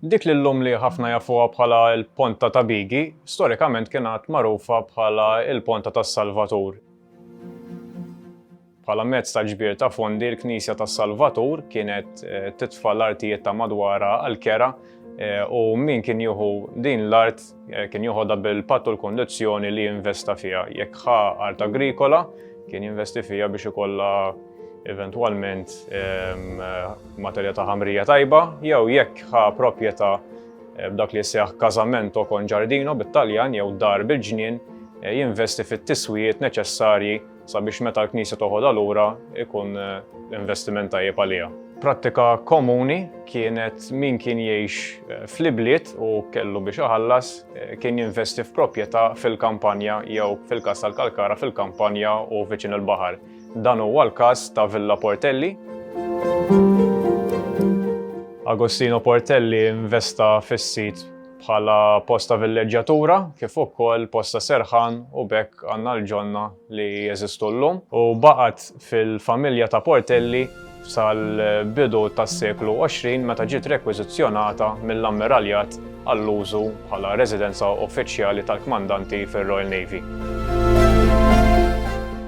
Dik li llum li ħafna jafuha bħala l-Ponta ta' Bigi, storikament kienet magħrufa bħala l-Ponta tas-Salvatur. Bħala mezz ta' ġbir ta' fondi, l-Knisja tas-Salvatur kienet titfa' l-artijiet ta' madwarha għall-kera u min kien jieħu din l-art kien joħodha bil-patt u l-kondizzjoni li jinvesta fiha. Jekk ħa art agrikola, kien jinvesti fiha biex ikollha eventwalment materja ta' ħamrija tajba, jew jekk ħa proprjetà b'dak li seħ kazamento kon ġardino bit-Taljan jew dar bil-ġnien jinvesti fit-tiswijiet neċessarji sabiex meta l-Knisja toħodha lura ikun investiment tajjeb għaliha. Prattika komuni kienet min kien jgħix eh, fl-ibliet u kellu biex iħallas eh, kien jinvesti f'proprjetà fil-kampanja jew fil-kas tal-Kalkara fil-kampanja u viċin il-baħar. Dan huwa l-każ ta' Villa Portelli. Agostino Portelli investa fis-sit bħala post ta' villeġġatura kif ukoll post ta' serħan u b'hekk għandna l-ġonna li jeżistu llum u baqgħet fil-familja ta' Portelli sal-bidu tas-seklu 20 meta ġiet rekwiżizzjonata mill-Ammiraljat għall-użu bħala residenza uffiċjali tal-kmandanti fir-Royal Navy.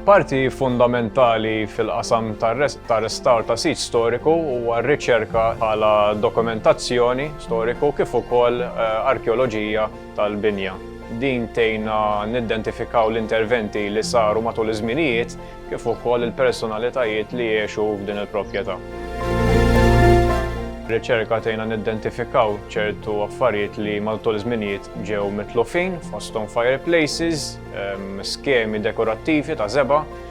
Parti fundamentali fil-qasam tar-restawr ta' sit storiku huwa r-riċerka bħala dokumentazzjoni storiku kif ukoll arkeoloġija tal-binja. Din tgħinna nidentifikaw l-interventi li saru matul iż-żminijiet kif ukoll il-personalitajiet li għexu f'din il-proprjetà. Ir-riċerka tgħinna nidentifikaw ċertu affarijiet li matul iż-żminijiet ġew mitlufin fosthom fireplaces, skemi dekorattivi ta' żebgħa,